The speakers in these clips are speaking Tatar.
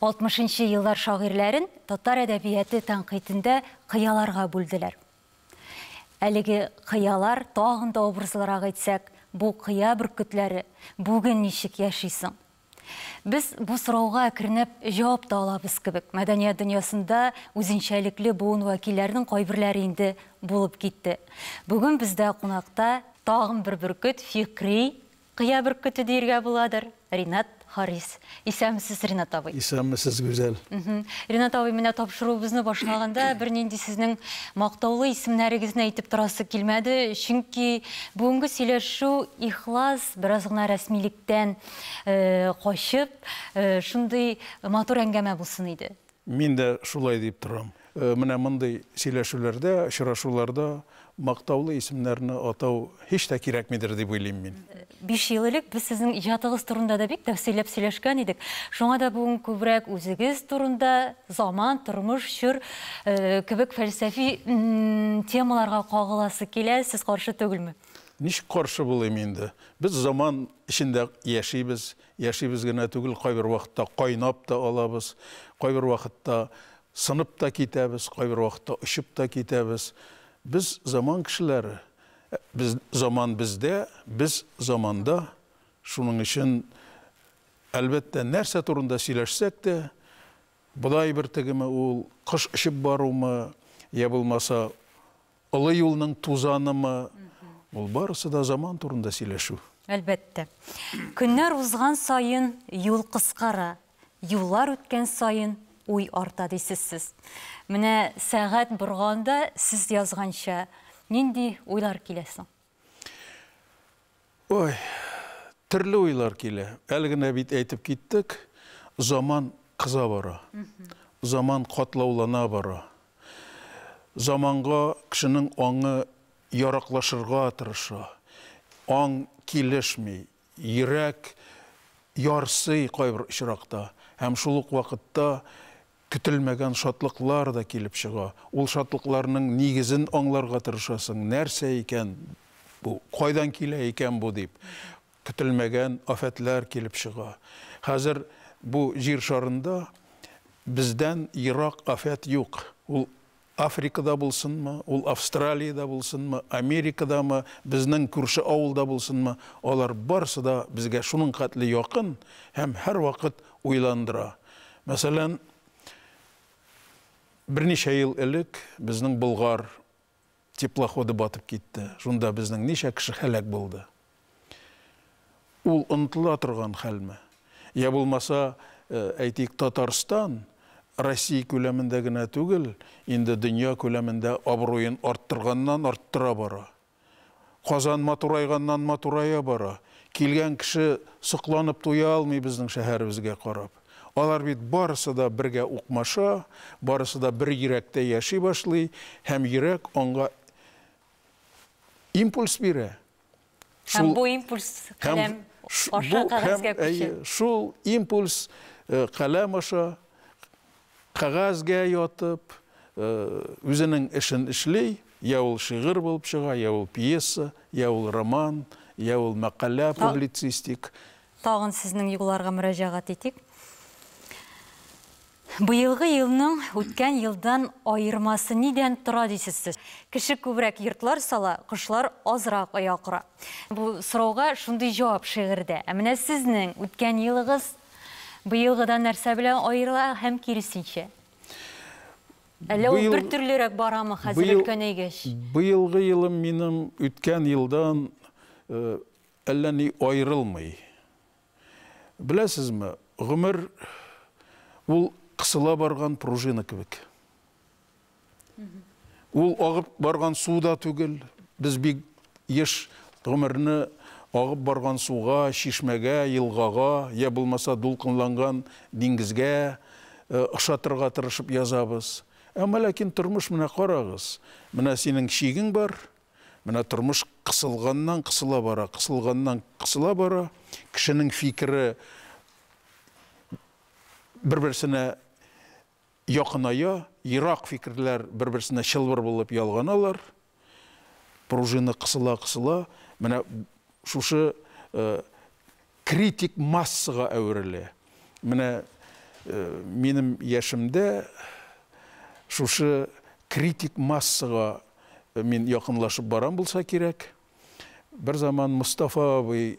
Алтмышынчы еллар шагыйрьләрен татар әдәбияты тәнкыйтендә кыяларга бүлделәр. Әлеге кыялар, тагын да образлырак әйтсәк, бу кыя бөркетләре бүген ничек яши соң? Без бу сорауга әкренләп җавап та алабыз кебек. Мәдәният дөньясында үзенчәлекле буын вәкилләренең кайберләре инде булып китте. Бүген бездә кунакта тагын бер бөркет, фикри Кыя бөркете диергә буладыр. Ринат Харис. Исәнмесез, Ринат абый. Исәнмесез, Гүзәл. Ринат абый, менә тапшыруыбызны башлаганда бернинди сезнең мактаулы исемнәрегезне әйтеп торасы килмәде, чөнки бүгенге сөйләшү ихлас, бераз гына рәсмилектән качып, шундый матур әңгәмә булсын иде. Мин дә шулай дип торам. Менә мондый сөйләшүләрдә, очрашуларда мактаулы исемнәрне атау һич тә кирәкмидер дип уйлыйм мин. Биш ел элек без сезнең иҗатыгыз турында да бик тәфсилләп сөйләшкән идек. Шуңа да бүген күбрәк үзегез турында, заман, тормыш, чор кебек фәлсәфи темаларга кагыласы килә. Сез каршы түгелме? Ничек каршы булыйм инде? Без заман эчендә яшибез. Яшибез генә түгел, кайбер вакытта кайнап та алабыз, кайбер вакытта сынып та китәбез, кайбер вакытта очып та китәбез. Без, заман кешеләре. Без, заман бездә, без, заманда. Шуның өчен, әлбәттә, нәрсә турында сөйләшсәк тә, бодай бөртегеме ул, кош очып барумы, йә булмаса, Олы юлның тузанымы, ул барысы да заман турында сөйләшү. Әлбәттә. Көннәр узган саен юл кыскара, юллар үткән саен уй арта дисез сез. Менә сәгать борганда сез язганча нинди уйлар килә соң? Ой, төрле уйлар килә. Әле генә бит әйтеп киттек, заман кыза бара. Заман катлаулана бара. Заманга кешенең аңы яраклашырга тырыша. Аң килешми. Йөрәк ярсый кайбер очракта, һәм шул ук вакытта көтелмәгән шатлыклар да килеп чыга. Ул шатлыкларның нигезен аңларга тырышасың, нәрсә икән бу, кайдан килә икән бу дип. Көтелмәгән афәтләр килеп чыга. Хәзер бу җир шарында бездән ерак афәт юк. Ул. Африкада булсынмы, ул Австралиядә булсынмы, Америкадамы, безнең күрше авылда булсынмы, алар барысы да безгә шуның хәтле якын һәм һәрвакыт уйландыра. Мәсәлән, берничә ел элек безнең Болгар теплоходы батып китте. Шунда безнең ничә кеше һәлак булды. Ул онытыла торган хәлме? Йә булмаса, әйтик, Татарстан Россия күләмендә генә түгел, инде дөнья күләмендә абруен арттырганнан-арттыра бара. Казан матурайганнан-матурая бара. Килгән кеше сокланып туя алмый безнең шәһәребезгә карап. Алар бит барысы да бергә укмаша, барысы да бер йөрәктә яши башлый һәм йөрәк аңга импульс бирә. Һәм бу импульс каләм аша кагазьгә күчә. Шул импульс каләм аша кагазьгә ятып, үзенең эшен эшли, я ул шигырь булып чыга, я ул пьеса, я ул роман, я ул мәкалә публицистик. Тагын сезнең юлларга мөрәҗәгать итик. Быелгы елның үткән елдан аермасы нидән тора дисез сез? Кеше күбрәк йортлар сала, кошлар азрак оя кора. Бу сорауга шундый җавап шигырьдә. Ә менә сезнең үткән елыгыз быелгыдан нәрсә белән аерыла һәм киресенчә? Әллә ул бертөрлерәк барамы хәзер өлкәнәйгәч? Быелгы елым минем үткән елдан әллә ни аерылмый. Беләсезме, гомер ул кысыла барган пружина кебек. Ул агып барган су да түгел. Без бик еш гомерне агып барган суга, чишмәгә, елгага, я булмаса дулкынланган диңгезгә э, ошатырга тырышып язабыз. Әмма ләкин тормыш менә карагыз. Менә синең чигең бар, Менә тормыш кысылганнан-кысыла бара, кысылганнан-кысыла бара. Кешенең фикере бер-берсенә якыная, ерак фикерләр бер-берсенә чылбыр булып ялганалар. Пружина кысыла-кысыла, менә шушы э, критик массага әверелә. Менә минем яшемдә шушы критик массага мин якынлашып барам булса кирәк. Бер заман Мостафа абый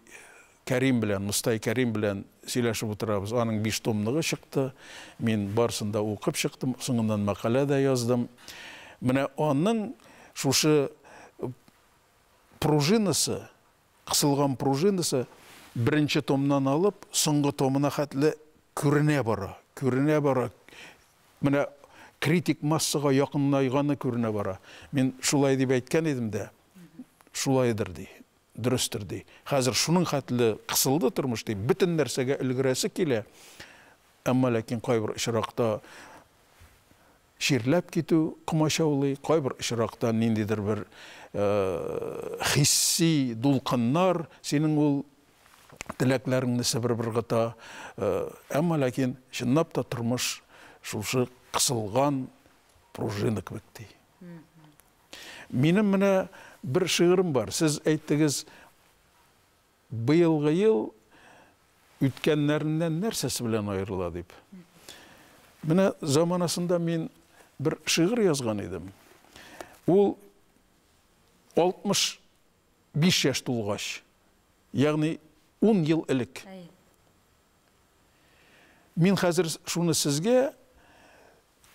Кәрим белән, Мостай Кәрим белән сөйләшеп утырабыз. Аның биш томлыгы чыкты. Мин барысын да укып чыктым, соңыннан мәкалә дә яздым. Менә аның шушы пружинасы Кысылган пружинасы беренче томнан алып, соңгы томына хәтле күренә бара, күренә бара, менә критик массага якынайганы күренә бара. Мин шулай дип әйткән идем дә, шулайдыр, ди, дөрестер, ди. Хәзер шуның хәтле кысылды тормыш, ди, бөтен нәрсәгә өлгерәсе килә, әмма ләкин кайбер очракта Чирләп китү комачаулый, кайбер очракта ниндидер бер хисси дулкыннар синең ул теләкләреңне себереп ыргыта. Әмма ләкин чынлап та тормыш шушы кысылган пружина кебек ди. Минем менә бер шигырем бар. Сез әйттегез, Быелгы ел үткәннәреннән нәрсәсе белән аерыла дип. Менә заманасында мин бер шигырь язган идем. Ул 65 яшь тулгач, ягъни 10 ел элек. Мин хәзер шуны сезгә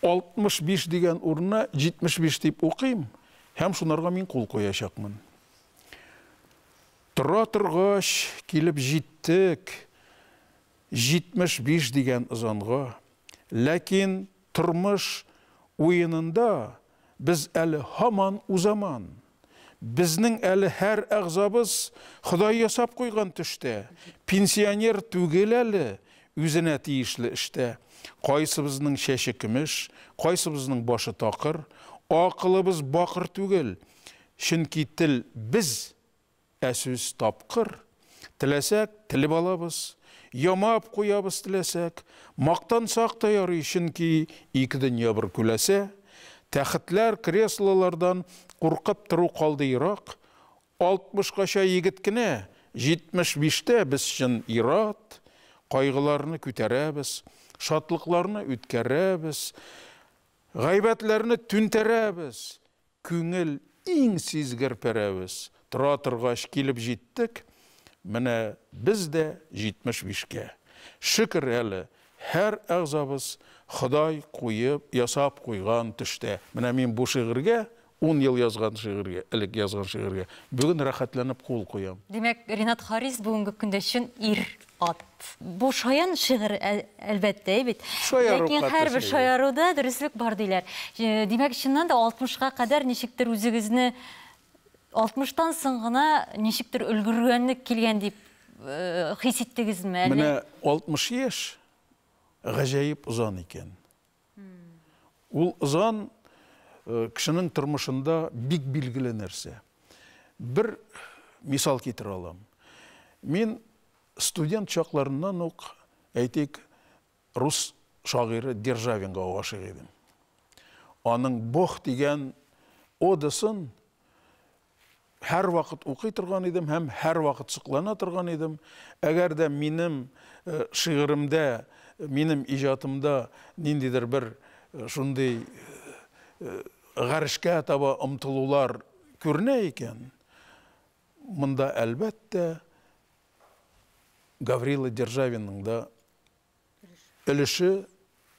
65 дигән урынына 75 дип укыйм һәм шунарга мин кул куячакмын. Тора торгач, килеп җиттек 75 дигән ызанга. Ләкин тормыш уенында Без әле һаман узаман. Безнең әле һәр әгъзабыз Ходай ясап куйган төштә. Пенсионер түгел әле, үзенә тиешле эштә. Кайсыбызның чәче көмеш, кайсыбызның башы такыр. Акылыбыз бакыр түгел, чөнки тел без, Ә сүз тапкыр. Теләсәк, телеп алабыз, ямап куябыз, теләсәк, мактансак та ярый, чөнки ике дөнья бер күләсә. Тәхетләр, креслолардан куркып тору калды ерак. Алтмышкача егет кенә, җитмеш биштә без чын ир-ат. Кайгыларны күтәрәбез, шатлыкларны үткәрәбез, гайбәтләрне түнтәрәбез. Күңел, иң сизгер пәрәвез. Тора торгач, килеп җиттек, менә без дә 75 кә. Шөкер әле, һәр әгъзабыз Ходай куеп, ясап куйган төштә. Менә мин бу шигырьгә, ун ел язган шигырьгә, элек язган шигырьгә, бүген рәхәтләнеп кул куям. Димәк, Ринат Харис бүгенге көндә чын ир. Ат. Бу шаян шигырь, әлбәттә бит. Ләкин һәрбер шаяруда дөреслек бар диләр. Димәк, чыннан да 60-ка кадәр ничектер үзегезне 60-тан соң гына ничектер өлгергәнлек килгән дип хис иттегезме әллә? Менә 60 яшь гаҗәеп озан икән. Ул ызан э, кешенең тормышында бик билгеле нәрсә. Бер мисал китерә алам. Мин студент чакларыннан ук, әйтик, рус шагыйре Державинга гашыйк идем. Аның Бог дигән одасын һәрвакыт укый торган идем һәм һәрвакыт соклана торган идем. Әгәр дә минем э, шигыремдә, минем иҗатымда ниндидер бер э, шундый э, гарешкә таба омтылулар күренә икән, монда әлбәттә Гаврила Державинның да өлеше,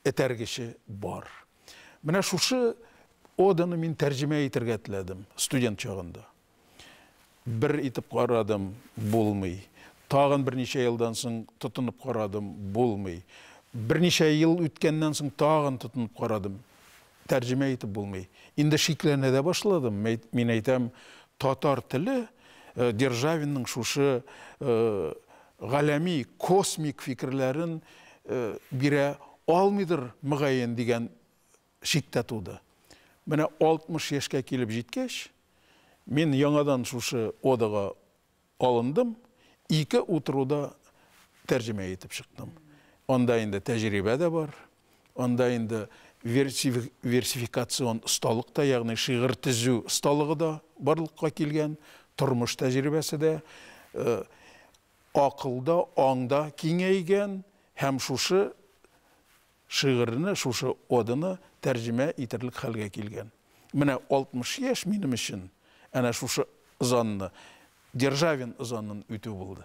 этәргече бар. Менә шушы оданы мин тәрҗемә итергә теләдем студент чагында. Бер итеп карадым, булмый. Тагын берничә елдан соң тотынып карадым, булмый. Берничә ел үткәннән соң тагын тотынып карадым. Тәрҗемә итеп булмый. Инде шикләнә дә башладым. Мәйт, мин әйтәм, татар теле Державинның шушы галәми, космик фикерләрен бирә алмыйдыр, мөгаен, дигән шик тә туды. Менә 60 яшькә килеп җиткәч, мин яңадан шушы одага Алындым, ике утыруда тәрҗемә итеп чыктым. Анда инде тәҗрибә дә бар, анда инде версификацион осталык та, ягъни шигырь төзү осталыгы да барлыкка килгән, тормыш тәҗрибәсе дә, акыл да, аң да киңәйгән һәм шушы Шигырьне, шушы оданы тәрҗемә итерлек хәлгә килгән. Менә 60 яшь минем өчен әнә шушы ызанны, Державин ызанын үтү булды.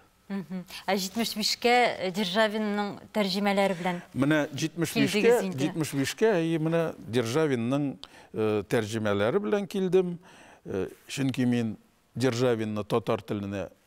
Ә 75 кә Державинның тәрҗемәләре белән килдегез инде. Менә 75 кә, 75 кә, әйе, менә Державинның тәрҗемәләре белән килдем. Чөнки мин Державинны татар теленә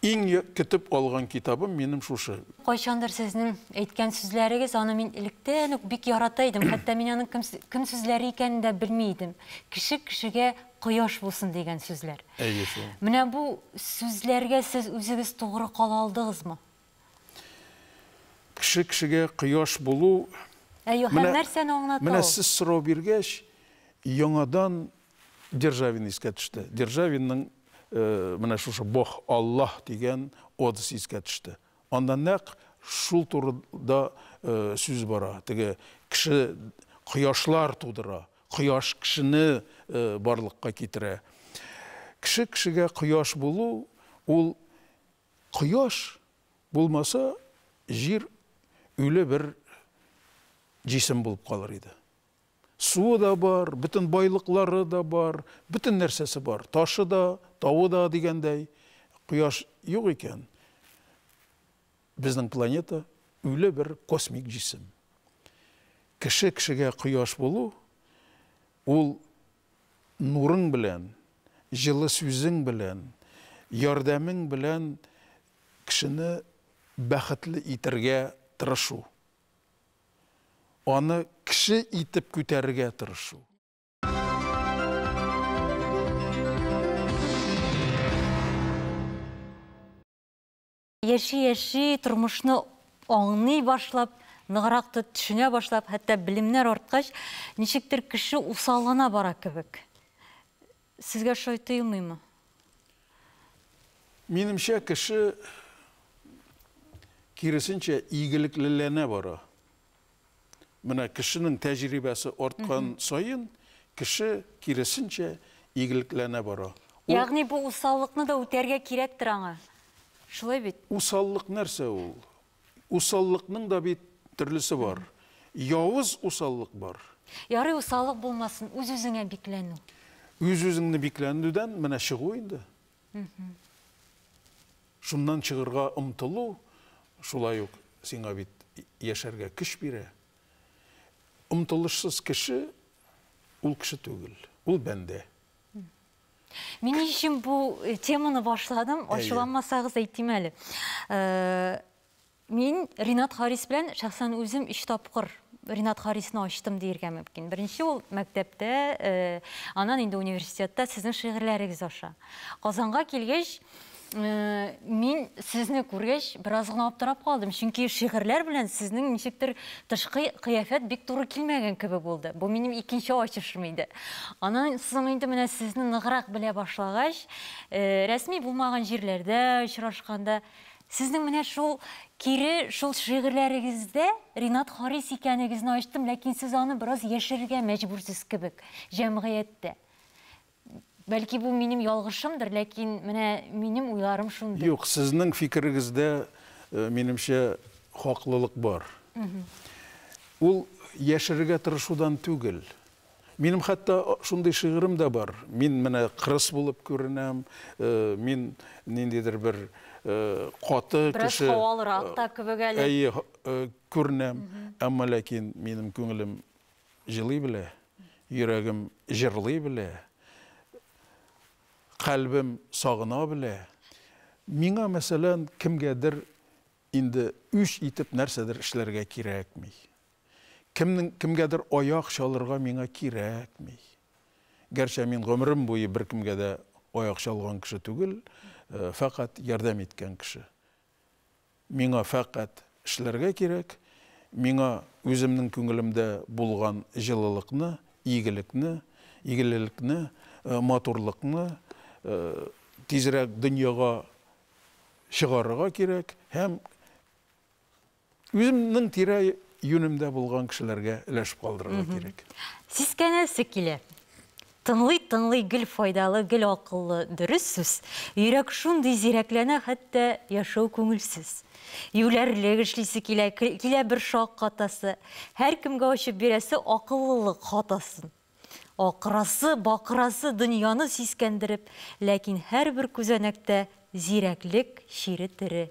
Иң я көтеп алган китабым минем шушы. Кайчандыр сезнең әйткән сүзләрегез, аны мин электән үк бик ярата идем, хәтта мин аның кем кем сүзләре икәнен дә белми идем. Кеше кешегә кояш булсын дигән сүзләр. Әйе шул. Менә бу сүзләргә сез үзегез тугры кала алдыгызмы? Кеше кешегә кояш булу Әйе, һәм нәрсәне аңлата ул? Менә сез сорау биргәч, яңадан Державин искә төште. Державинның менә шушы Бог, Аллаһ дигән одасы искә төште. Анда нәкъ шул турыда сүз бара. Теге кеше кояшлар тудыра, кояш кешене барлыкка китерә. Кеше кешегә кояш булу, ул кояш булмаса, җир үле бер җисем булып калыр иде. Суы да бар, бөтен байлыклары да бар, бөтен нәрсәсе бар, ташы да, тавы да дигәндәй. Кояш юк икән, безнең планета үле бер космик җисем. Кеше кешегә кояш булу, ул нурың белән, җылы сүзең белән, ярдәмең белән кешене бәхетле итәргә тырышу. аны кеше итеп күтәрергә тырышу. Яши-яши, тормышны аңлый башлап, ныграк төшенә башлап, хәтта белемнәр арткач, ничектер кеше усаллана бара кебек. Сезгә шулай тоелмыймы? Минемчә, кеше, киресенчә, игелеклеләнә бара. Менә кешенең тәҗрибәсе арткан саен, кеше, киресенчә, игелеклеләнә бара. Ул... Ягъни бу усаллыкны да үтәргә кирәктер аңа. Шулай бит? Усаллык нәрсә ул? Усаллыкның да бит төрлесе бар. Явыз усаллык бар. Ярый усаллык булмасын, үз-үзеңә бикләнү. Үз-үзеңне бикләнүдән менә чыгу инде. Шуннан чыгырга омтылу шулай ук сиңа бит яшәргә көч бирә. Омтылышсыз кеше, ул кеше түгел, ул бәндә. Мин ни өчен бу э, теманы башладым, ачуланмасагыз әйтим әле. Э, Мин Ринат Харис белән шәхсән үзем өч тапкыр Ринат Харисны ачтым диергә мөмкин. Беренче ул мәктәптә, э, анан инде университетта сезнең шигырьләрегез аша. Казанга килгәч, Мин сезне күргәч, бераз гына аптырап калдым, чөнки шигырьләр белән сезнең ничектер тышкы кыяфәт бик туры килмәгән кебек булды. Бу минем икенче ачышым иде. Аннан соң инде менә сезне ныграк белә башлагач, рәсми булмаган җирләрдә очрашканда, сезнең менә шул кире шул шигырьләрегездә Ринат Харис икәнегезне ачтым, ләкин сез аны бераз яшерергә мәҗбүрсез кебек җәмгыятьтә. Бәлки бу минем ялгышымдыр, ләкин менә минем уйларым шундый. Юк, сезнең фикерегездә, э, минемчә, хаклылык бар. Ул яшерергә тырышудан түгел. Минем хәтта шундый шигырем дә бар. Мин менә кырыс булып күренәм, э, мин ниндидер бер э, каты Бераз кеше. һавалырак та кебек әле. Әйе, һ- э, күренәм, әмма ләкин минем күңелем җылый белә, йөрәгем җырлый белә, калбем сагына белә. Миңа, мәсәлән, кемгәдер инде үч итеп нәрсәдер эшләргә кирәкми. Кемнең кемгәдер аяк чалырга миңа кирәкми. Гәрчә мин гомерем буе беркемгә дә аяк чалган кеше түгел, э, фәкать ярдәм иткән кеше. Миңа фәкать эшләргә кирәк, миңа үземнең күңелемдә булган җылылыкны, игелекне, игелелекне, матурлыкны тизрәк дөньяга чыгарырга кирәк һәм Үземнең тирә юнемдә булган кешеләргә өләшеп калдырырга кирәк. Сискәнәсе килә. Тыңлый тыңлый гел файдалы, гел акыллы, дөрес сүз. Йөрәк шундый зирәкләнә, хәтта яшәү күңелсез. Юләрлек эшлисе килә, килә бер шаккатасы. Һәркемгә ачып бирәсе акыллылык хатасын. Акырасы, бакырасы дөньяны сискәндереп, ләкин һәрбер күзәнәктә зирәклек чире тере.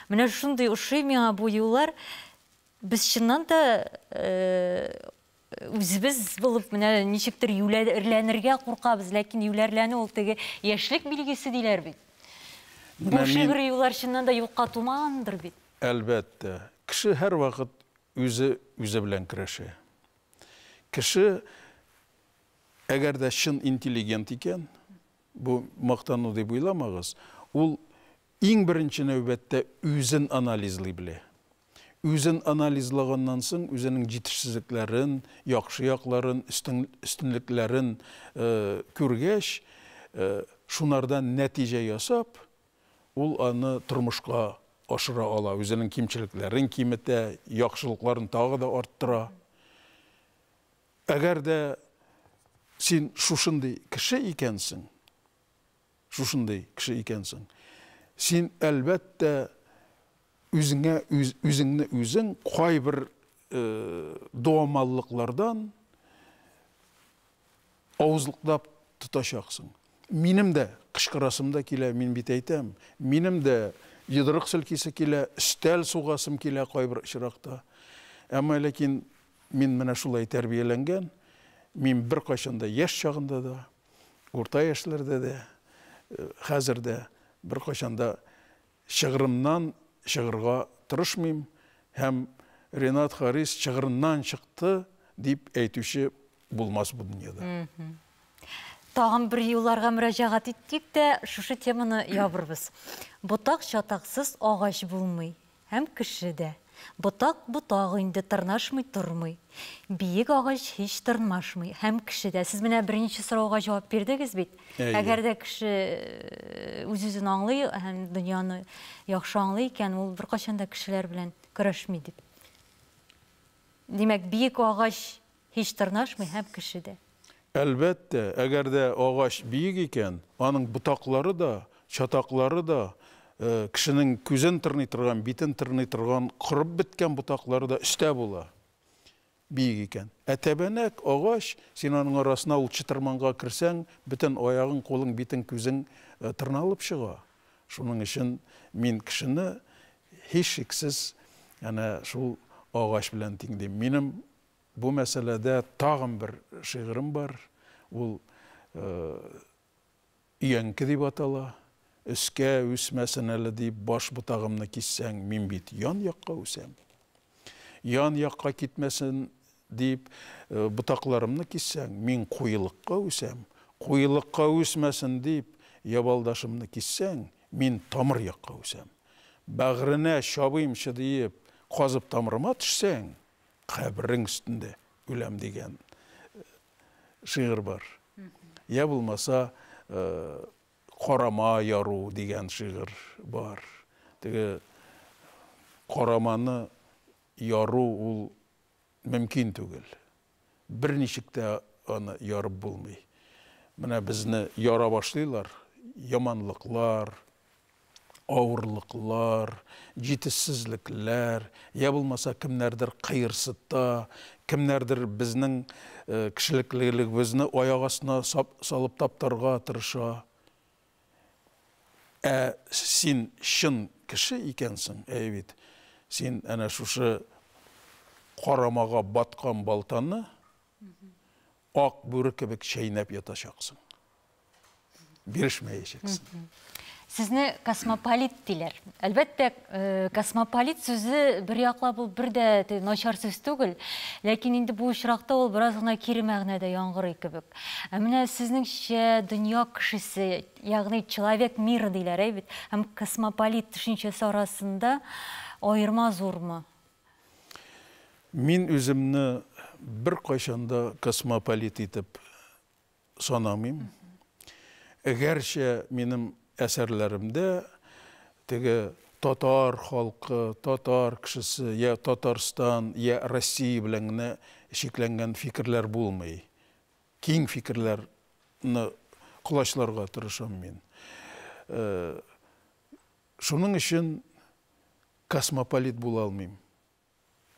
Менә шундый ошый миңа бу юллар. Без чыннан да үзебез булып менә ничектер юләрләнергә куркабыз, ләкин юләрләнү ул теге яшьлек билгесе диләр бит. Бу шигъри юллар чыннан да юкка тумагандыр бит? Әлбәттә, кеше һәрвакыт үзе үзе белән көрәшә. Кеше, әгәр дә чын интеллигент икән, бу мактану дип уйламагыз, ул иң беренче нәүбәттә үзен анализлый белә. Үзен анализлаганнан соң, үзенең җитешсезлекләрен, яхшы якларын, өстенлекләрен күргәч, шунардан нәтиҗә ясап, Ул аны тормышка ашыра ала, үзенең кимчелекләрен киметә, яхшылыкларын тагы да арттыра. Әгәр дә син шушындый кеше икәнсең, шушындый кеше икәнсең, син, әлбәттә, үзеңә үз, үзеңне үзең кайбер э, дуамаллыклардан Авызлыклап тотачаксың. Минем дә кычкырасым да килә, мин бит әйтәм. Минем дә йодрык селкисе килә, өстәл сугасым килә кайбер очракта. Әмма ләкин мин менә шулай тәрбияләнгән, мин беркайчан да яшь чагында да, урта яшьләрдә дә, хәзер дә беркайчан да Чыгырымнан чыгырга тырышмыйм һәм Ренат Харис чыгырыннан чыкты дип әйтүче булмас бу дөньяда. Тагын бер юлларга мөрәҗәгать иттек тә, шушы теманы ябырбыз. Ботак-чатаксыз агач булмый һәм кеше дә. Ботак ботак инде, тырнашмый тормый. Биек агач һич тырнмашмый. Һәм кеше дә. Сез менә беренче сорауга җавап бирдегез бит. Әгәр дә кеше үз-үзен аңлый һәм дөньяны яхшы аңлый икән, ул беркайчан да кешеләр белән көрәшми дип. Димәк, биек агач Һич тырнашмый һәм кеше дә. Әлбәттә, әгәр дә агач биек икән, аның ботаклары да, чатаклары да, кешенең күзен тырный торган, битен тырный торган корып беткән ботаклары да өстә була, биек икән. Ә тәбәнәк агач, син аның арасына ул чытырманга керсәң, бөтен аягың, кулың, битең, күзең тырналып чыга. Шуның өчен мин кешене, һичшиксез, әнә шул агач белән тиңлим. Минем Бу мәсьәләдә тагын бер шигырем бар. Ул Өянке дип атала. Өскә үсмәсен әле дип, баш ботагымны киссәң, мин бит ян якка үсәм. Ян якка китмәсен дип, ботакларымны киссәң, мин куелыкка үсәм. Куелыкка үсмәсен дип, ябалдашымны киссәң, мин тамыр якка үсәм. Бәгыренә чабыймчы диеп, казып тамырыма төшсәң, каберең өстендә үләм дигән шигырь бар. Я булмаса Карама яру дигән шигырь бар. Теге караманы яру ул мөмкин түгел. Берничек тә аны ярып булмый. Менә безне яра башлыйлар, яманлыклар, авырлыклар, җитешсезлекләр, я булмаса кемнәрдер кыерсыта, кемнәрдер безнең э, кешелеклелегебезне аяк астына салып таптарга тырыша. Ә син чын кеше икәнсең, әй бит, син әнә шушы карамага баткан балтаны ак бүре кебек чәйнәп ятачаксың. Бирешмәячәксең. Сезне космополит диләр. Әлбәттә, э, космополит сүзе бер яклап ул бер дә начар сүз түгел, ләкин инде бу очракта ул бераз гына кире мәгънәдә яңгырый кебек. Ә менә сезнеңчә дөнья кешесе, ягъни человек мира диләр, әй бит, һәм космополит төшенчәсе арасында аерма зурмы? Мин үземне беркайчан да космополит итеп санамыйм. Гәрчә минем әсәрләремдә теге татар халкы, татар кешесе, я Татарстан, я Россия белән генә чикләнгән фикерләр булмый. Киң фикерләрне колачларга тырышам мин. Шуның өчен Космополит була алмыйм.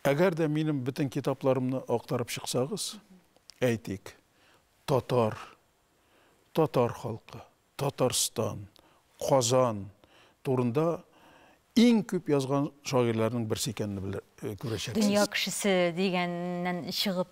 Әгәр дә минем бөтен китапларымны актарып чыксагыз, әйтик, татар, татар халкы, Татарстан, Казан турында иң күп язган шагыйрьләрнең берсе икәнне күрәчәксез. Дөнья кешесе дигәннән чыгып.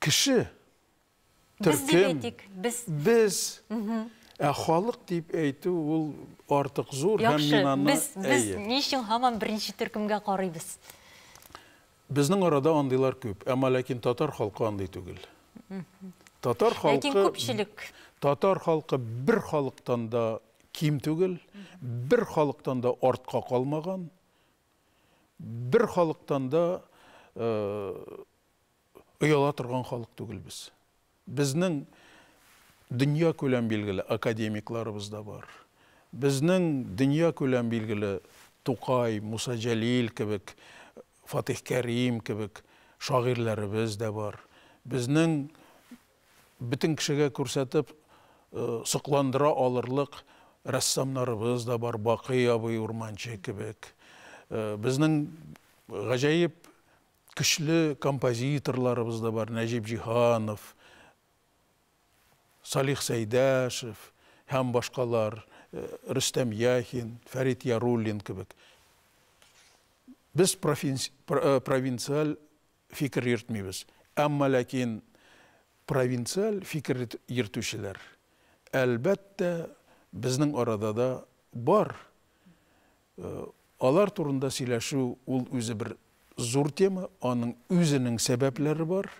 Кеше, Без дип төркем, әйтик, без. без, ә халык дип әйтү ул артык зур һәм Яхшы, мин аны, без, без әйе. ни өчен һаман беренче төркемгә карыйбыз? Безнең арада андыйлар күп, әмма ләкин татар халкы андый түгел. Татар халкы, Ләкин күпчелек. татар халкы бер халыктан да ким түгел, бер халыктан да артка калмаган. Бер халыктан да ояла торган халык түгел без. Безнең дөньякүләм билгеле академикларыбыз да бар. Безнең дөньякүләм билгеле Тукай, Муса Җәлил кебек, Фатих Кәрим кебек шагыйрьләребез дә бар. Безнең Бөтен кешегә күрсәтеп сокландыра алырлык рәссамнарыбыз да бар, Бакый абый Урманче кебек. Безнең гаҗәеп көчле композиторларыбыз да бар, Нәҗип Җиһанов, Салих Сәйдәшев һәм башкалар, Рөстәм Яхин, Фәрит Яруллин кебек. Без провинциаль фикер йөртмибез. Әмма ләкин провинциаль фикер йөртүчеләр, әлбәттә, безнең арада да бар. Алар турында сөйләшү ул үзе бер зур тема, аның үзенең сәбәпләре бар.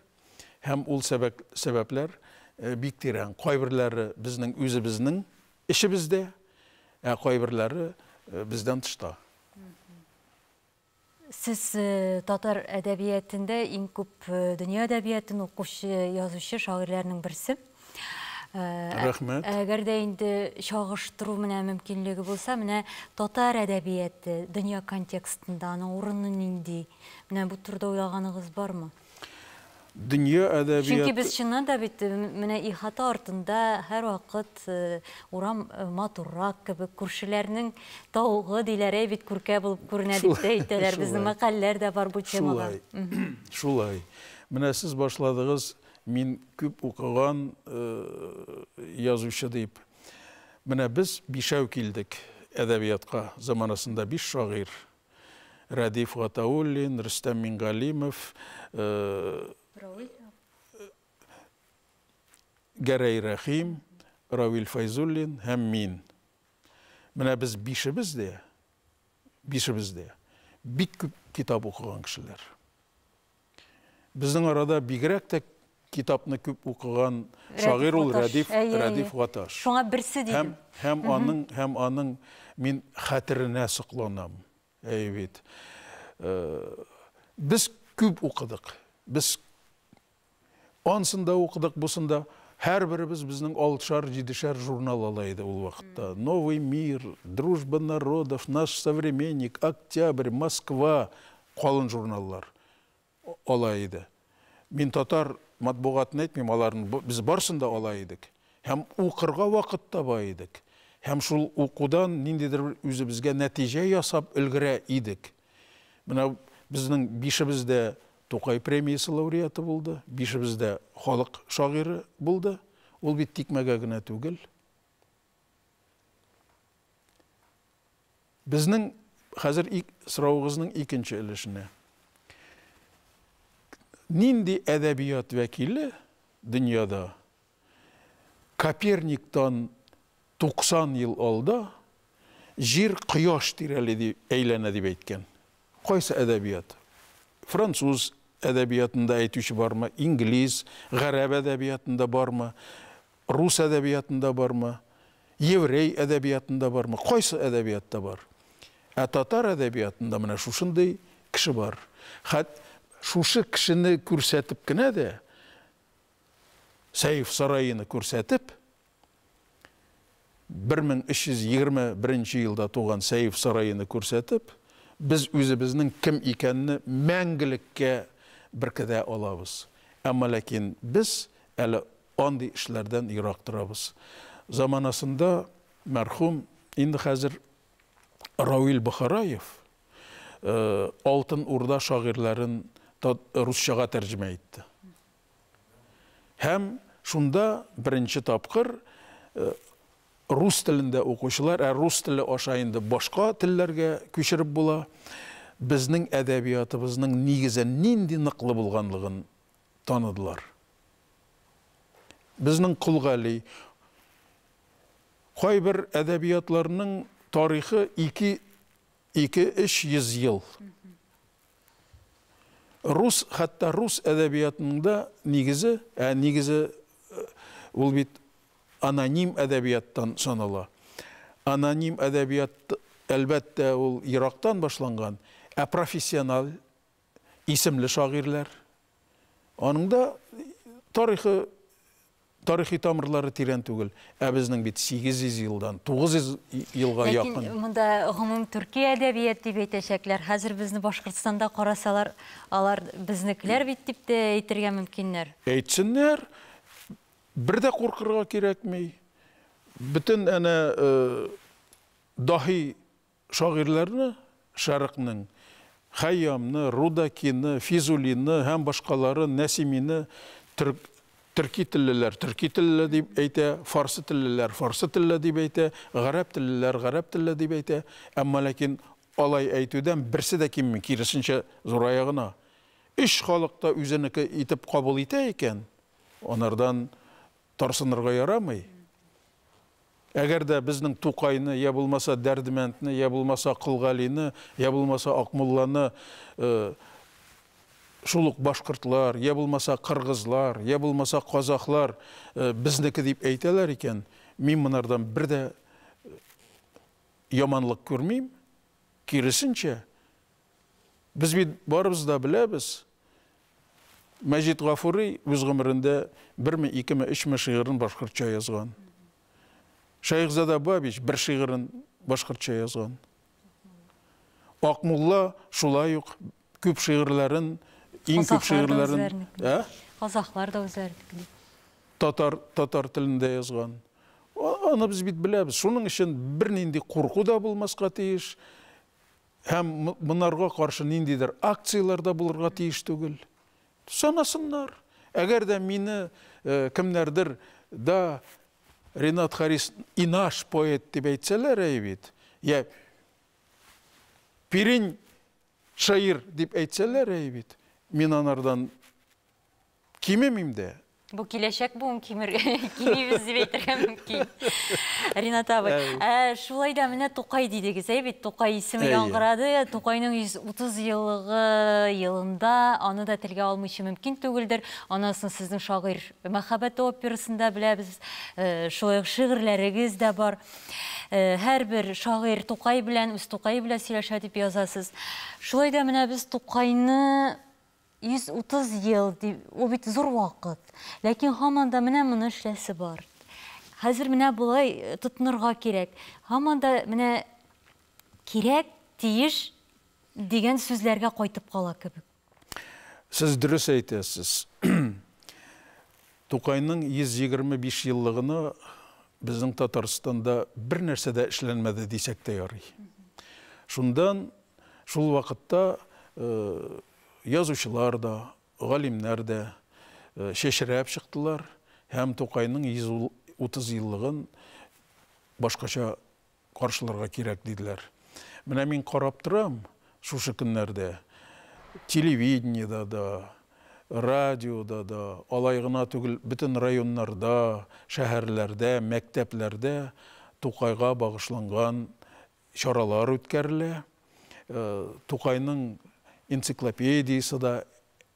Һәм ул сәбәпләр бик тирән. Кайберләре безнең үзебезнең эчебездә, ә кайберләре бездән тышта. Сез татар әдәбиятендә иң күп дөнья әдәбиятын укучы язучы, шагыйрьләрнең берсе. Рәхмәт. Әгәр дә инде чагыштыру менә мөмкинлеге булса, менә татар әдәбияты дөнья контекстында аның урыны нинди? Менә бу турыда уйлаганыгыз бармы? Дөнья әдәбият... Чөнки без чыннан да бит менә ихата артында һәрвакыт урам матуррак кебек, күршеләрнең тавыгы диләр, әй бит күркә булып күренә дип тә әйтәләр. Безнең мәкальләр дә бар бу темага. Шулай. Шулай. Менә сез башладыгыз, мин күп укыган язучы дип. Менә без бишәү килдек әдәбиятка, заманасында биш шагыйрь. Рәдиф Гатауллин, Рөстәм Мингалимов, Гәрәй Рәхим, Равил Файзуллин һәм мин. Менә без бишебез дә, бишебез дә бик күп китап укыган кешеләр. Безнең арада бигрәк тә китапны күп укыган шагыйрь ул Рәдиф, Рәдиф Гаташ. Шуңа берсе дидем. Һәм, һәм аның, һәм аның мин хәтеренә сокланам. Әй бит. Без күп укыдык. Без Ансын да укыдык, бусын да. Һәрберебез безнең алтышар, җидешәр журнал ала иде ул вакытта. Новый мир, Дружба народов, Наш современник, Октябрь, Москва, калын журналлар ала иде. Мин татар матбугатын әйтмим, аларны без барсын да ала идек. Һәм укырга вакыт таба идек. Һәм шул укудан ниндидер бер үзебезгә нәтиҗә ясап өлгерә идек. Менә безнең бишебез дә Тукай премиясе лауреаты булды, бишебез дә халык шагыйре булды. Ул бит тикмәгә генә түгел. Безнең хәзер ик, соравыгызның икенче өлешенә. Нинди әдәбият вәкиле дөньяда Коперниктан 90 ел алда Җир Кояш тирәли ди, әйләнә дип әйткән. Кайсы әдәбият? Француз әдәбиятында әйтүче бармы? Инглиз, гарәп әдәбиятында бармы? Рус әдәбиятында бармы? Еврей әдәбиятында бармы? Кайсы әдәбиятта бар? Ә татар әдәбиятында менә шушындый кеше бар. Хәт шушы кешене күрсәтеп кенә дә Сәйф сараены күрсәтеп, 1321 нче елда туган Сәйф сараены күрсәтеп, без үзебезнең кем икәнне мәңгелеккә беркетә алабыз. Әмма ләкин без әле андый эшләрдән ерак торабыз. Заманасында мәрхүм, инде хәзер Рауил Бохараев Алтын Урда шагыйрьләрен русчага тәрҗемә итте. Һәм шунда беренче тапкыр рус телендә укучылар, ә рус теле аша инде башка телләргә күчереп була, безнең әдәбиятыбызның нигезен нинди ныклы булганлыгын таныдылар. Безнең Кол Гали, кайбер әдәбиятларның тарихы ике Ике-өч йөз ел. Рус, хәтта рус әдәбиятының да нигезе, ә нигезе ул бит аноним әдәбияттан санала. Аноним әдәбият, әлбәттә, ул ерактан башланган, ә профессиональ исемле шагыйрьләр. Аның да тарихы, тарихи тамырлары тирән түгел. Ә безнең бит 800 елдан, 900 елга Ләкин якын. Ләкин монда гомум төрки әдәбият дип әйтәчәкләр. Хәзер безне Башкортстанда карасалар, алар безнекеләр бит дип тә әйтергә мөмкиннәр. Әйтсеннәр, бер дә куркырга кирәкми. Бөтен әнә э, даһи Шагыйрьләрне Шәрыкның, Хәйямны, Рудакины, Физулины һәм башкаларын, Нәсимине, төрк, төрки теллеләр, төрки теллеле дип әйтә, фарсы теллеләр, фарсы телле дип әйтә, гарәп теллеләр, гарәп телле дип әйтә, әмма ләкин алай әйтүдән берсе дә кимми, киресенчә, зурая гына. Өч халык та үзенеке итеп кабул итә икән, анардан Тарсынырга ярамый. Әгәр дә безнең Тукайны, йә булмаса Дәрдмәндне, йә булмаса Кылгалине, йә булмаса Акмулланы шул ук башкортлар, йә булмаса кыргызлар, йә булмаса казахлар безнеке дип әйтәләр икән, мин монардан бер дә яманлык күрмим, киресенчә, Без бит барыбыз да беләбез, Мәҗит Гафури үз гомерендә берме, икеме, өчме шигырен башкортча язган. Шәехзада Бабич бер шигырен башкортча язган. Акмулла шулай ук күп шигырьләрен, иң күп шигырьләрен, ә? Казахлар да үзләренекен. Татар татар телендә язган. Аны без бит беләбез. Шуның өчен бернинди курку да булмаска тиеш. Һәм монарга каршы ниндидер акцияләр дә булырга тиеш түгел. Санасыннар. Әгәр дә мине кемнәрдер да Ренат Харис инаш поэт дип әйтсәләр, әй бит, я Пирень шаир дип әйтсәләр, әй бит, мин анардан Кимемим дә. Бу киләчәк буын кимер, кимибез дип әйтергә мөмкин. Ринат абый, ә, шулай да менә Тукай дидегез, әй бит, Тукай исеме Әйе. яңгырады. Тукайның 130 еллыгы елында аны да телгә алмыйча мөмкин түгелдер. Анасын сезнең шагыйрь мәхәббәт операсында беләбез. Э, Шулай ук шигырьләрегез дә бар. Э, Һәрбер шагыйрь Тукай белән, үз Тукае белән сөйләшә дип язасыз. Шулай да менә без Тукайны 130 ел дип, ул бит зур вакыт. Ләкин һаман да менә моны эшләсе бар. Хәзер менә болай э, тотынырга кирәк. Һаман да менә кирәк, тиеш дигән сүзләргә кайтып кала кебек. Сез дөрес әйтәсез. Тукайның 125 еллыгына безнең Татарстанда бер нәрсә дә эшләнмәде дисәк тә ярый. Шундан Шул вакытта язучылар да, галимнәр дә чәчрәп чыктылар һәм Тукайның 130 еллыгын башкача каршыларга кирәк диделәр. Менә мин карап торам, шушы көннәрдә телевидениедә дә, радиода да, алай гына түгел, бөтен районнарда, шәһәрләрдә, мәктәпләрдә Тукайга багышланган чаралар үткәрелә. Тукайның энциклопедиясе дә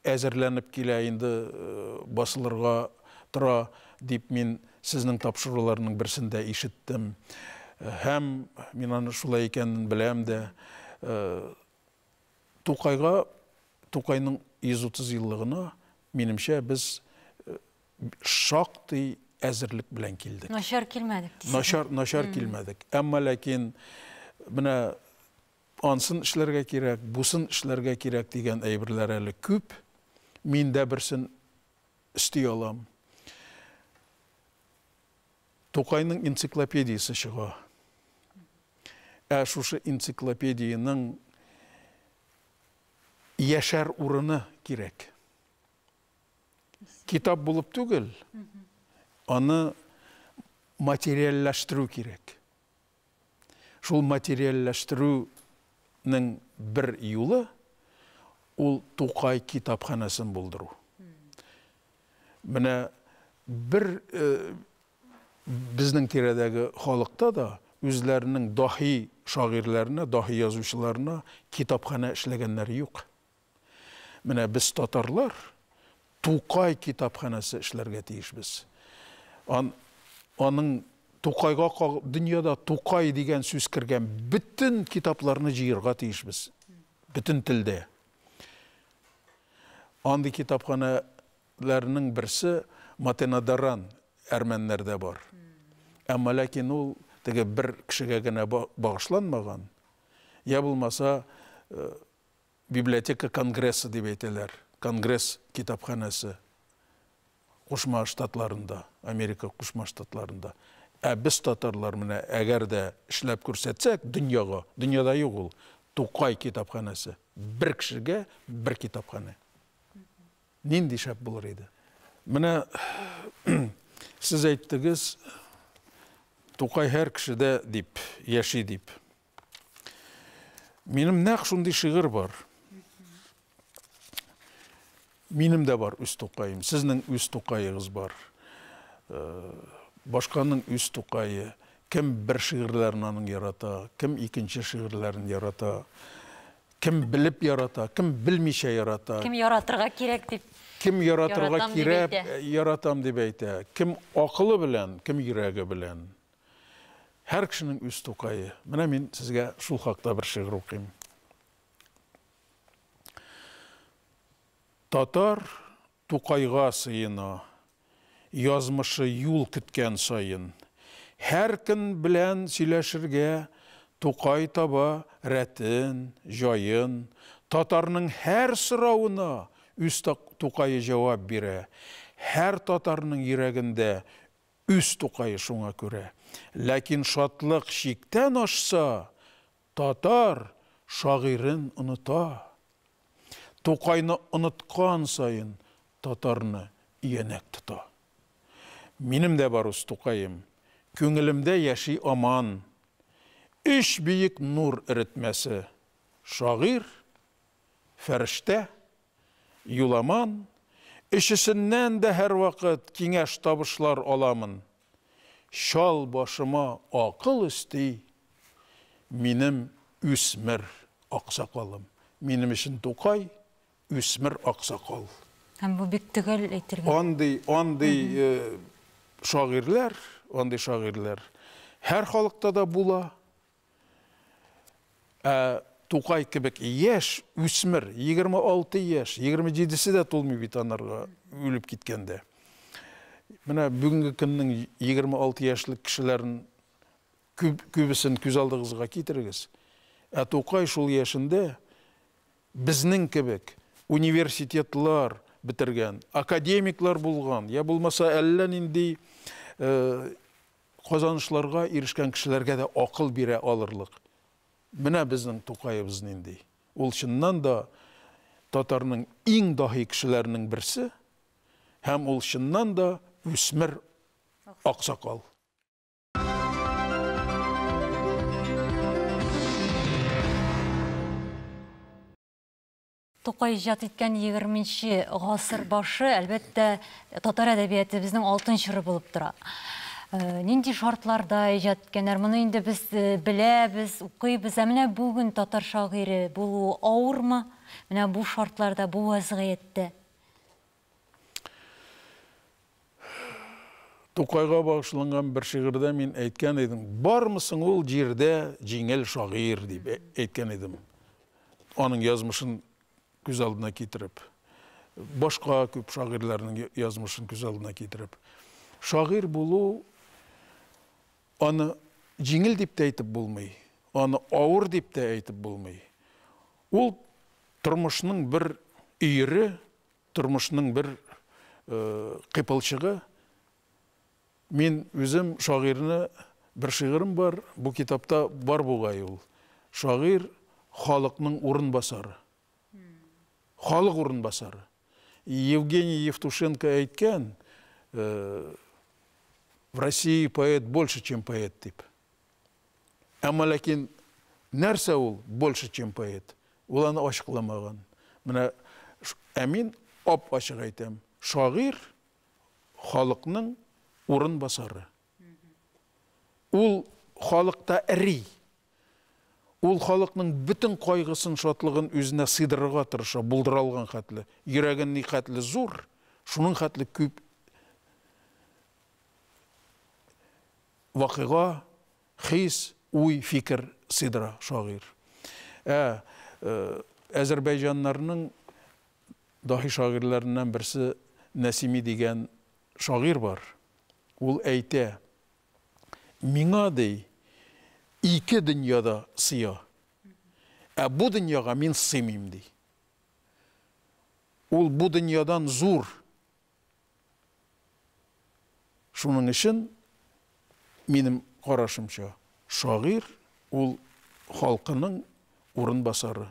әзерләнеп килә, инде басылырга тора, дип мин сезнең тапшыруларның берсендә ишеттем. Һәм мин аны шулай икәнен беләм дә. Тукайга, Тукайның 130 еллыгына, минемчә, без шактый әзерлек белән килдек. Начар килмәдек дисең. Начар, начар килмәдек. Әмма ләкин менә ансын эшләргә кирәк, бусын эшләргә кирәк дигән әйберләр әле күп. Мин дә берсен өсти алам. Тукайның энциклопедиясе чыга. Ә шушы энциклопедиянең яшәр урыны кирәк. Китап булып түгел, аны материальләштерү кирәк. Шул материальләштерүнең бер юлы ул Тукай китапханәсен булдыру. Менә бер э, безнең тирәдәге халыкта да үзләренең дахи шагыйрьләренә, дахи язучыларына китапханә эшләгәннәре юк. Менә без татарлар Тукай китапханәсе эшләргә тиешбез. Ан, аның Тукайга каг... дөньяда Тукай дигән сүз кергән бөтен китапларны җыерга тиешбез. Бөтен телдә. Андый китапханәләрнең берсе Матенадаран әрмәннәрдә бар. Әмма ләкин ул теге бер кешегә генә багышланмаган, я булмаса э, Библиотека конгрессы дип әйтәләр, конгресс китапханәсе Кушма Штатларында, Америка Кушма Штатларында. Ә без татарлар менә әгәр дә эшләп күрсәтсәк дөньяга, дөньяда юк ул, Тукай китапханәсе. Бер кешегә бер китапханә. Нинди шәп булыр иде. Менә сез әйттегез, Тукай һәр кешедә дип, яши дип. Минем нәкъ шундый шигырь бар. Минем дә бар үз тукаем, сезнең үз тукаегыз бар. Э, башканың үз тукае, кем бер шигырьләрен аның ярата, кем икенче шигырьләрен ярата, кем белеп ярата, кем белмичә ярата. Кем яратырга кирәк дип. Кем яратырга кирәк, яратам дип әйтә. Кем акылы белән, кем йөрәге белән. Һәр кешенең үз Тукае. Менә мин сезгә шул хакта бер шигырь укыйм. Татар Тукайга сыена, язмышы юл көткән саен. Һәр көн белән сөйләшергә Тукай таба рәтен, җаен. Татарның һәр соравына үз Тукае җавап бирә. Һәр татарның йөрәгендә Үз Тукае шуңа күрә. Ләкин шатлык чиктән ашса, татар шагыйрен оныта. Тукайны оныткан саен татарны иянәк тота. Минем дә бар үз Тукаем, күңелемдә яши аман. Өч биек нур эретмәсе, шагыйрь, фәрештә, Юламан, өчесеннән дә һәрвакыт киңәш-табышлар аламын. Чал башыма акыл өсти минем үсмер аксакалым. Минем өчен Тукай, үсмер аксакал. Һәм бу бик төгәл әйтелгән. Андый, андый шагыйрьләр, андый шагыйрьләр һәр халыкта да була. Ә Тукай кебек яшь үсмер, 26 яшь, 27-се дә тулмый бит анарга үлеп киткәндә. Менә бүгенге көннең 26 яшьлек кешеләрен күп, күбесен күз алдыгызга китерегез. Ә Тукай шул яшендә безнең кебек университетлар бетергән, академиклар булган, я булмаса әллә нинди э, Казанышларга ирешкән кешеләргә дә акыл бирә алырлык. Менә безнең Тукаебыз нинди. Ул чыннан да татарның иң даһи кешеләренең берсе һәм ул чыннан да үсмер аксакал. Тукай иҗат иткән егерменче гасыр башы, әлбәттә, татар әдәбиятебезнең алтын чоры булып тора. Э, нинди шартларда иҗат иткәннәр? Моны инде без э, беләбез, укыйбыз. Ә менә бүген татар шагыйре булуы авырмы? Менә бу шартларда, бу вәзгыятьтә. Тукайга багышланган бер шигырьдә мин әйткән идем, бармысың ул җирдә җиңел шагыйрь дип ә- әйткән идем. Аның язмышын күз алдына китереп, башка күп шагыйрьләрнең я- язмышын күз алдына китереп. Шагыйрь булу аны җиңел дип тә әйтеп булмый, аны авыр дип тә әйтеп булмый. Ул тормышның бер өере, Тормышның бер кыйпылчыгы. Мин үзем шагыйрьне бер шигырем бар, бу китапта бар бугай ул. Шагыйрь халыкның урынбасары. Халык урынбасары. Евгений Евтушенко әйткән, э, в России поэт больше, чем поэт дип. Әмма ләкин нәрсә ул больше, чем поэт? Ул аны ачыкламаган. Менә ә мин ап-ачык әйтәм, шагыйрь халыкның урын басары. Ул халыкта эри. Ул халыкның бөтен кайгысын, шатлыгын үзенә сыйдырырга тырыша, булдыра алган хәтле. Йөрәген ни хәтле зур, шуның хәтле күп вакыйга, хис, уй, фикер сыйдыра шагыйрь. Ә әзәрбәйҗаннарның даһи шагыйрьләреннән берсе Нәсими дигән шагыйрь бар. Ул әйтә, Миңа, ди, ике дөнья да сыя. Ә бу дөньяга мин сыймыйм, ди. Ул бу дөньядан зур. Шуның өчен, минем карашымча, шагыйрь ул халкының урынбасары.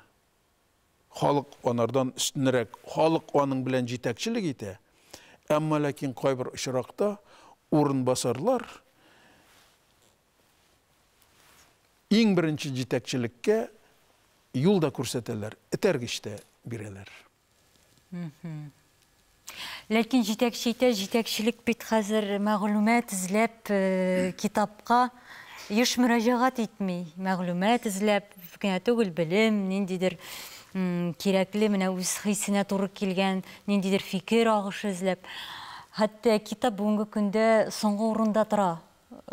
Халык анардан өстенрәк, халык аның белән җитәкчелек итә. Әмма ләкин кайбер очракта урынбасарлар иң беренче җитәкчелеккә юл да күрсәтәләр, этәргеч тә бирәләр. Ләкин җитәкче әйтә, җитәкчелек бит хәзер мәгълүмат эзләп э, китапка еш мөрәҗәгать итми. Мәгълүмат эзләп генә түгел, белем, ниндидер м, кирәкле, менә үз хисенә туры килгән, ниндидер фикер агышы эзләп. Хәтта китап бүгенге көндә соңгы урында тора.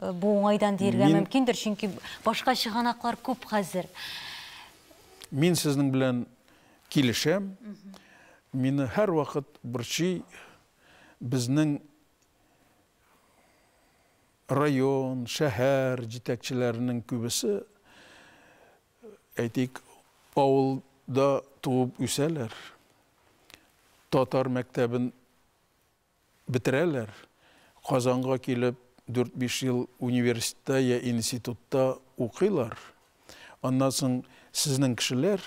Э, Бу уңайдан диергә Мин- мөмкиндер, чөнки башка чыганаклар күп хәзер. Мин сезнең белән Килешәм. Мине һәрвакыт борчый, безнең район, шәһәр җитәкчеләренең күбесе, әйтик, авылда туып үсәләр, татар мәктәбен бетерәләр, Казанга килеп, дүрт-биш ел университетта я институтта укыйлар, аннан соң сезнең кешеләр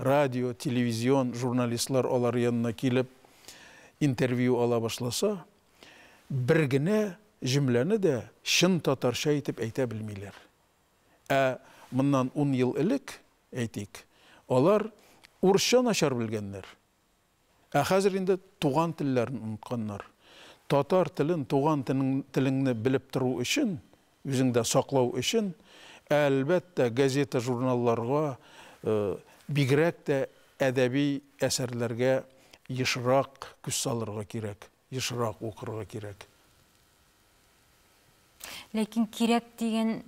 радио, телевизион журналистлар алар янына килеп интервью ала башласа, бер генә җөмләне дә чын татарча итеп әйтә белмиләр. Ә моннан ун ел элек, әйтик, алар урысча начар белгәннәр. Ә хәзер инде туган телләрен онытканнар. Татар телен, туган телеңне белеп тору өчен, үзеңдә саклау өчен, әлбәттә, газета-журналларга, бигрәк тә әдәби әсәрләргә ешрак күз салырга кирәк, ешрак укырга кирәк. Ләкин кирәк дигән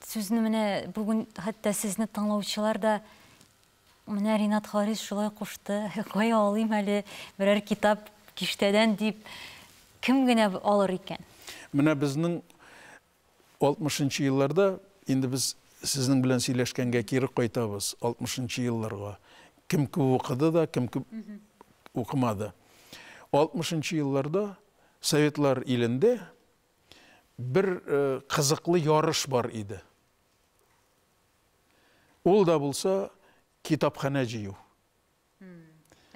сүзне менә бүген хәтта сезне тыңлаучылар да, Менә Ринат Харис шулай кушты. Кая алыйм әле берәр китап киштәдән дип, кем генә алыр икән? Менә безнең алтмышынчы елларда, инде без сезнең белән сөйләшкәнгә кире кайтабыз, алтмышынчы елларга. Кем күп укыды да, кем күп укымады. Алтмышынчы елларда Советлар илендә бер кызыклы ярыш бар иде. Ул да булса китапханә җыю.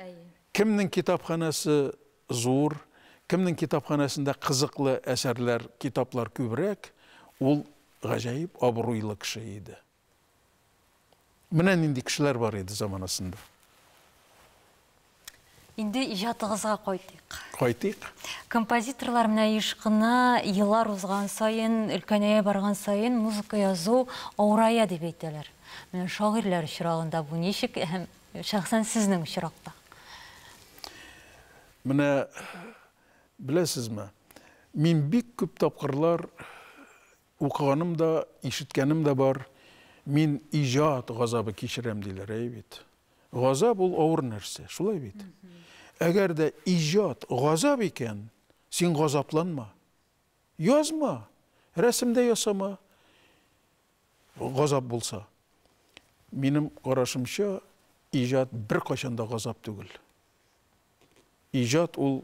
Әйе. Кемнең китапханәсе зур, кемнең китапханәсендә кызыклы әсәрләр, китаплар күбрәк, ул гаҗәеп абруйлы кеше иде. Менә нинди кешеләр бар иде заманасында. Инде иҗатыгызга кайтыйк. Кайтыйк. Композиторлар менә еш кына еллар узган саен, өлкәнәя барган саен музыка язу авырая дип әйтәләр. Менә шагыйрьләр очрагында бу ничек һәм шәхсән сезнең очракта? Менә беләсезме, мин бик күп тапкырлар Укыганым да, ишеткәнем дә бар, мин иҗат газабы кичерәм, диләр, әйе бит? Газап ул авыр нәрсә, шулай бит? Әгәр дә иҗат газап икән, син газапланма. Язма, рәсем дә ясама, газап булса. Минем карашымча, иҗат беркайчан да газап түгел. Иҗат ул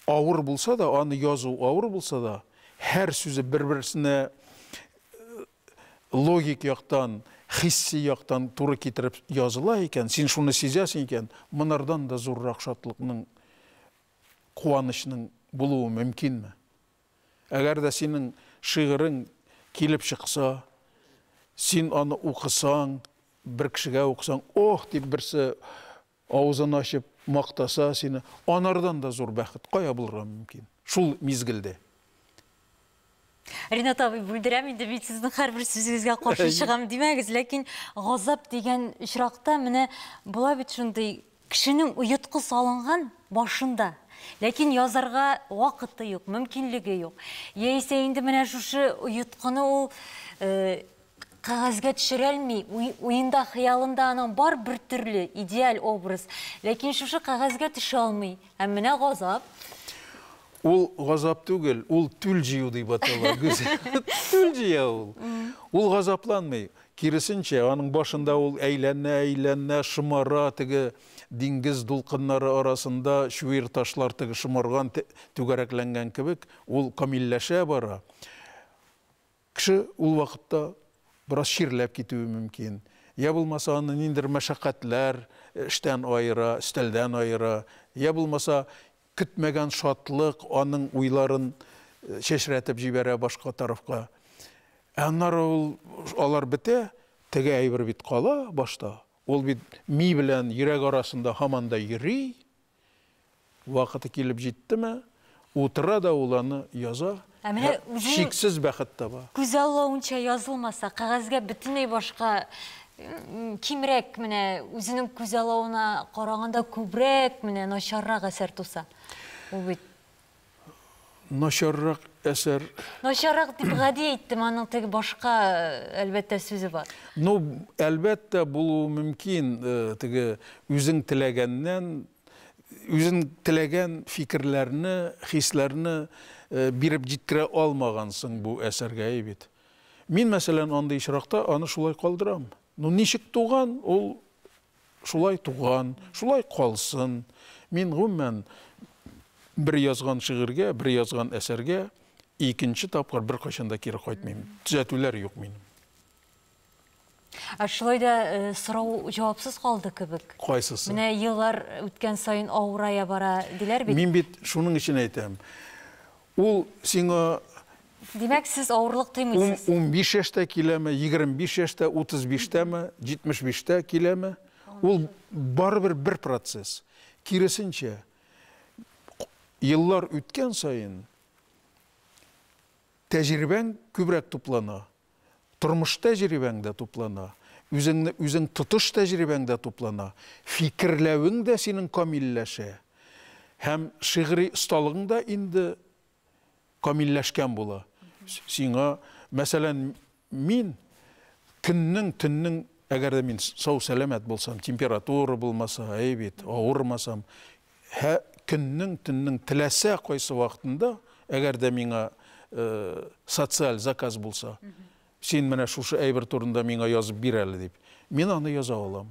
авыр булса да, аны язу авыр булса да, һәр сүзе бер-берсенә логик яктан, хисси яктан туры китереп языла икән, син шуны сизәсең икән, монардан да зуррак шатлыкның, куанычның булуы мөмкинме? Әгәр дә синең шигырең килеп чыкса, син аны укысаң, бер кешегә укысаң, ох, дип берсе авызын ачып мактаса сине, анардан да зур бәхет кая булырга мөмкин? Шул мизгелдә. Ринат абый, бүлдерәм инде, мин сезнең һәрбер сүзегезгә каршы чыгам димәгез, ләкин газап дигән очракта менә була бит шундый Кешенең оеткы салынган башында, ләкин язарга вакыты юк, мөмкинлеге юк. Яисә инде менә шушы оеткыны ул кәгазьгә төшерәлми, уенда, хыялында аның бар бер төрле идеаль образ, ләкин шушы кәгазьгә төшә алмый. Һәм менә газап. Ул газап түгел, ул түл җыю дип атала. Түл җыя ул. Ул газапланмый. Киресенчә, аның башында ул әйләнә-әйләнә шомара, теге диңгез дулкыннары арасында чуер ташлар теге шомарган түгәрәкләнгән кебек, ул камилләшә бара. Кеше ул вакытта бераз чирләп китүе мөмкин. Йә булмаса, аны ниндидер мәшәкатьләр эштән аера, өстәлдән аера, йә булмаса, Көтмәгән шатлык аның уйларын чәчрәтеп җибәрә башка тарафка. Ә аннары ул, алар бетә, теге әйбер бит кала башта. Ул бит ми белән йөрәк арасында һаман да йөри. Вакыты килеп җиттеме, утыра да ул аны яза. Ә менә үзең шиксез бәхет таба. Күз аллавынча язылмаса, кәгазьгә бөтенләй башка кимрәк менә үзенең күз алавына караганда күбрәк менә начаррак әсәр туса. Ул бит начаррак әсәр. Начаррак дип гади әйттем, аның теге башка әлбәттә сүзе бар. Ну, әлбәттә булуы мөмкин, теге үзең теләгәннән Үзең теләгән фикерләрне, хисләрне биреп җиткерә алмагансың бу әсәргә, әй бит. Мин, мәсәлән, андый очракта аны шулай калдырам. Ну, ничек туган, ул шулай туган, шулай калсын. Мин, гомумән, бер язган шигырьгә, бер язган әсәргә икенче тапкыр беркайчан да кире кайтмыйм. Төзәтүләр юк минем. Ә шулай да э, сорау җавапсыз калды кебек. Кайсысы? Менә еллар үткән саен авырая бара диләр бит. Мин бит шуның өчен әйтәм. Ул сиңа Димәк, сез авырлык тоймыйсыз. 15 яшьтә киләме, 25 яшьтә, 35-тәме, 75-тә киләме, ул барыбер бер процесс. Киресенчә, еллар үткән саен тәҗрибәң күбрәк туплана. Тормыш тәҗрибәң дә туплана, үзеңне үзең тотыш тәҗрибәң дә туплана, фикерләвең дә синең камилләшә һәм шигъри осталыгың да инде камилләшкән була. Сиңа, мәсәлән, мин көннең, төннең, әгәр дә мин сау-сәламәт булсам, температура булмаса, әй бит, авырмасам, Һә көннең, төннең теләсә кайсы вакытында, әгәр дә миңа социаль заказ булса, син менә шушы әйбер турында миңа язып бир әле дип, мин аны яза алам.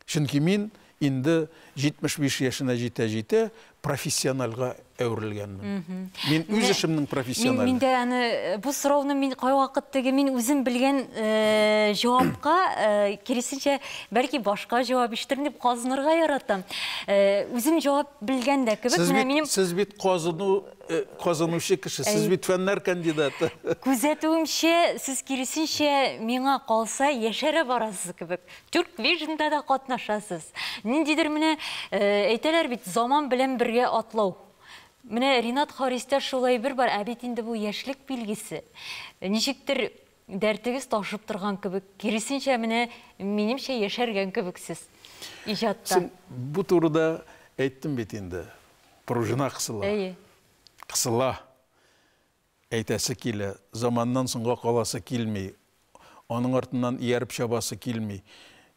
Чөнки мин инде 75 яшенә җитә-җитә профессиональга әверелгәнмен. Мин үз эшемнең профессионалы. Мин дә аны э, бу сорауны мин кайвакыт теге мин үзем белгән э, җавапка э, киресенчә бәлки башка җавап ишетер дип казынырга яратам. Үзем җавап белгән дә кебек. Менә минем Сез бит казыну казынучы кеше, сез бит фәннәр кандидаты. Күзәтүемчә, сез киресенчә миңа калса яшәрә барасыз кебек. Тюрквижнда да катнашасыз. Ниндидер менә әйтәләр бит, заман белән бергә атлау. Менә Ринат Харистә шулай бер бар, ә бит инде бу яшьлек билгесе. Ничектер дәртегез ташып торган кебек, киресенчә менә минемчә яшәргән кебексез иҗатта. Син бу турыда әйттем бит инде. Пружина кысыла. Әйе. Кысыла. Әйтәсе килә, заманнан соңга каласы килми, аның артыннан ияреп чабасы килми.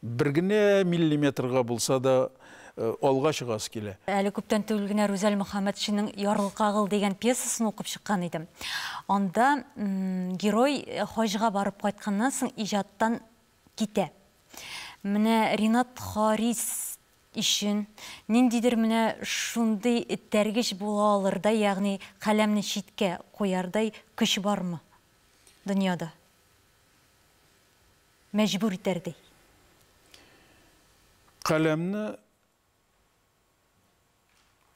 Бер генә миллиметрга булса да алга чыгасы килә. Әле күптән түгел генә Рүзәл Мөхәммәтшинның Ярлы кагыл дигән пьесасын укып чыккан идем. Анда герой хаҗга барып кайтканнан соң иҗаттан китә. Менә Ринат Харис өчен, ниндидер менә шундый этәргеч була алырдай, ягъни каләмне читкә куярдай көч бармы дөньяда? Мәҗбүр итәрдәй. Каләмне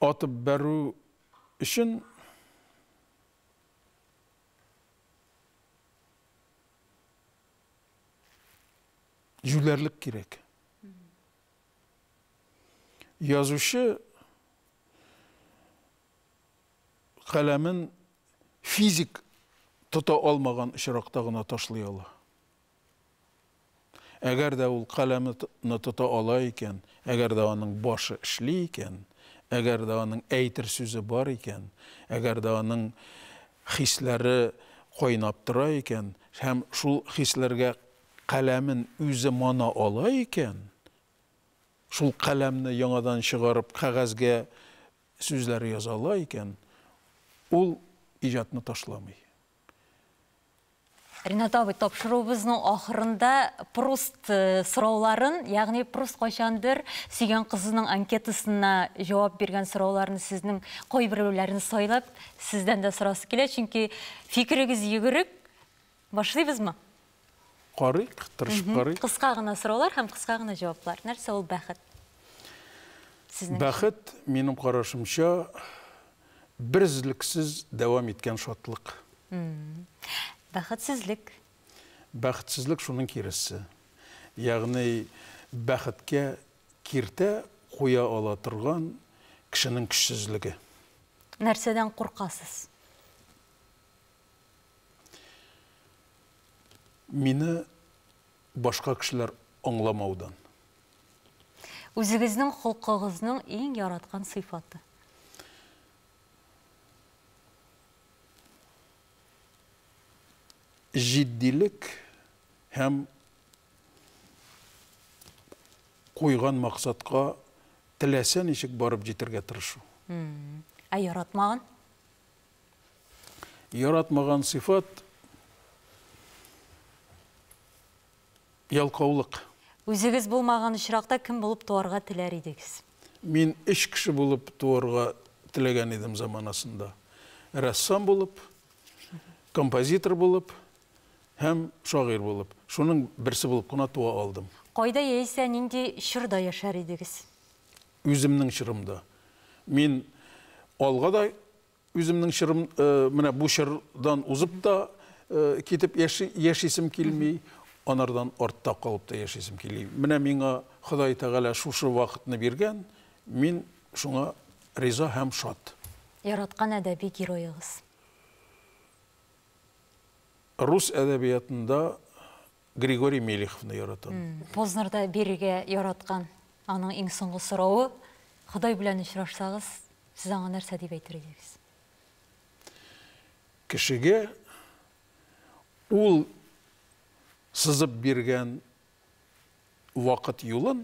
атып бәрү өчен җүләрлек кирәк. Язучы каләмен физик тота алмаган очракта гына ташлый ала. Әгәр дә ул каләмне тота ала икән, әгәр дә аның башы эшли икән, әгәр дә аның әйтер сүзе бар икән, әгәр дә аның хисләре кайнап тора икән һәм шул хисләргә Каләмен үзе мана ала икән, шул каләмне яңадан чыгарып кәгазьгә сүзләр яза ала икән, ул иҗатны ташламый. Ринат абый, тапшыруыбызның ахырында Пруст сорауларын, ягъни Пруст кайчандыр сөйгән кызының анкетасына җавап биргән сорауларны сезнең кайберәүләрен сайлап, сездән дә сорасы килә, чөнки фикерегез йөгерек, Башлыйбызмы? Карыйк, тырышып карыйк. Кыска гына сораулар һәм кыска гына җаваплар. Нәрсә ул бәхет? Бәхет, минем карашымча, берзлексез дәвам иткән шатлык. Бәхетсезлек? Бәхетсезлек шуның киресе. Ягъни бәхеткә киртә куя ала торган кешенең көчсезлеге. Нәрсәдән куркасыз? Мине башка кешеләр аңламаудан. Үзегезнең холкыгызның иң яраткан сыйфаты? Җитдилек һәм куйган максатка теләсә ничек барып җитәргә тырышу. Ә яратмаган? Яратмаган сыйфат ялкаулык. Үзегез булмаган очракта кем булып туарга теләр идегез? Мин өч кеше булып туарга теләгән идем заманасында. Рәссам булып, композитор булып һәм шагыйрь булып. Шуның берсе булып кына туа алдым. Кайда яисә нинди чорда яшәр идегез? Үземнең чырымда мин алга да үземнең чырым менә бу чырдан узып та китеп яши, яшисем килми, анардан артта калып та яшисем килми. Менә миңа Ходай Тәгалә шушы вакытны биргән, мин шуңа риза һәм шат. Яраткан әдәби героегыз? Рус әдәбиятында Григорий Мелеховны яратам. Познерда бирергә яраткан аның иң соңгы сорауы, Ходай белән очрашсагыз, сез аңа нәрсә дип әйтер идегез? Кешегә ул сызып биргән вакыт юлын,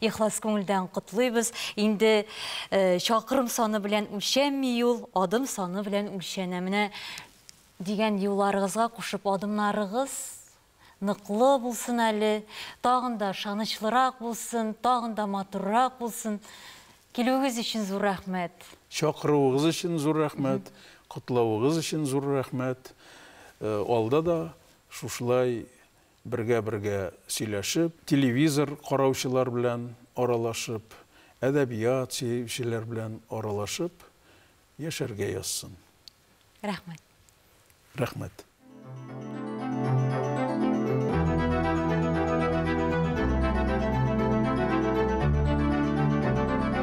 Ихлас күңелдән котлыйбыз. Инде э, чакрым саны белән үлчәнми юл, адым саны белән үлчәнә. Менә дигән юлларыгызга кушып адымнарыгыз ныклы булсын әле, тагын да шанычлырак булсын, тагын да матуррак булсын. Килүегез өчен зур рәхмәт. Чакыруыгыз өчен зур рәхмәт, котлавыгыз өчен зур рәхмәт. Э, Алда да шушылай Бергә-бергә сөйләшеп, телевизор караучылар белән аралашып, әдәбият сөючеләр белән аралашып яшәргә язсын. Рәхмәт. Рәхмәт.